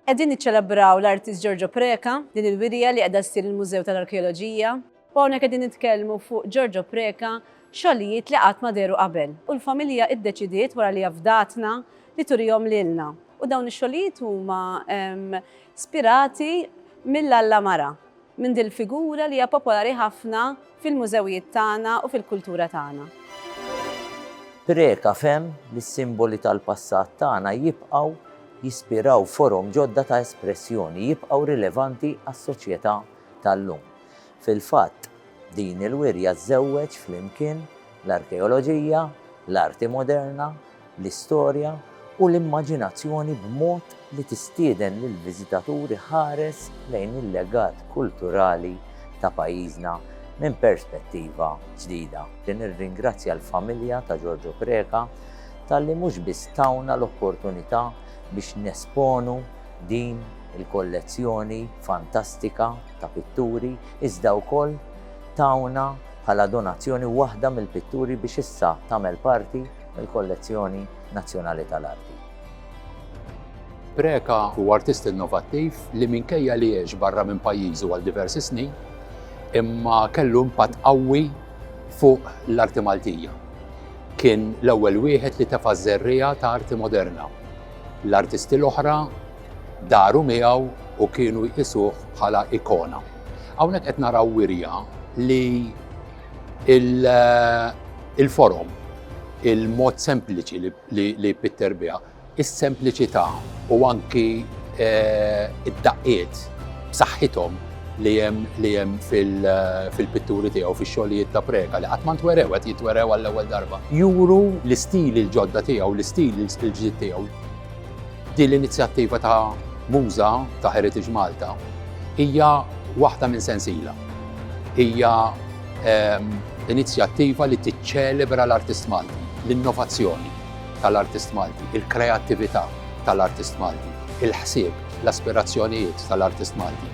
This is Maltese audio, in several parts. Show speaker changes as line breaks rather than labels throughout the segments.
Qegħdin niċċelebraw l-artist Giorgio Preca, din il-wirja li qiegħda ssir il-Mużew tal-Arkeoloġija. U hawnhekk qegħdin nitkellmu fuq Giorgio Preca, xogħlijiet li qatt ma deru qabel. U l-familja iddeċidiet wara li afdatna li turihom lilna. U dawn ix-xogħlijiet huma spirati mill-Alla Mara. minn din il-figura li hija popolari ħafna fil-mużewijiet tagħna u fil-kultura tagħna. Preca fehem li s-simboli tal-passat tagħna jibqgħu jispiraw forom ġodda ta' espressjoni, jibqgħu rilevanti għas-soċjetà tal-lum. Fil-fatt, din il-wirja żżewweġ flimkien l-arkeoloġija, l-arti moderna, l-istorja u l-immaġinazzjoni b'mod li tistieden lill-viżitatur iħares lejn il-legat kulturali ta' pajjiżna minn perspettiva ġdida. Nirringrazzja l-familja ta' Giorgio Preca talli mhux biss tawna l-opportunità biex nesponu din il-kollezzjoni fantastika ta' pitturi iżda wkoll tawna bħala donazzjoni waħda mill-pitturi biex issa tagħmel parti il-Kollezzjoni Nazzjonali tal-Arti. Preca huwa artist innovattiv li minkejja li għex barra minn pajjiżu għal diversi snin, imma kellu impatt qawwi fuq l-arti Maltija. Kien l-ewwel wieħed li tefa' żerriegħa ta' arti moderna. L-artisti l-oħra daru miegħu u kienu jqisuh bħala ikona. Hawnhekk qed naraw wirja li Il-forom, il-mod sempliċi li Pitter biha, is-sempliċità u anki eh, id-daqqiet b'saħħithom li hemm li hemm fil-pitturi tiegħu fix-xogħlijiet ta' preka li qatt ma ntwerew qed jitwerew għall-ewwel darba. Juru l-istil il-ġodda tiegħu, l-istil il-ġdid tiegħu. Din l-inizjattiva ta' Muża ta' Heritage Malta hija waħda minn sensiela. Hija ehm, inizjattiva li tiċċelebra l-artist Malti, l-innovazzjoni tal-artist Malti, il-kreattività tal-artist Malti, il-ħsieb, l-aspirazzjonijiet tal-artist Malti.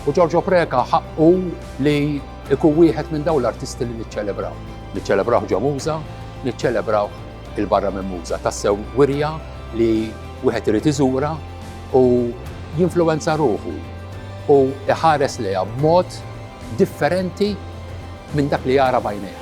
U Giorgio Preka ħaqqu li ikun wieħed minn dawn l-artisti li niċċelebraw. Niċċelebraw ġo Muża, niċċelebraw il-barra minn Muża tassew wirja li wieħed irid iżura u jinfluwenza ruħu u iħares lejha b'mod differenti minn dak li jara bajnejh.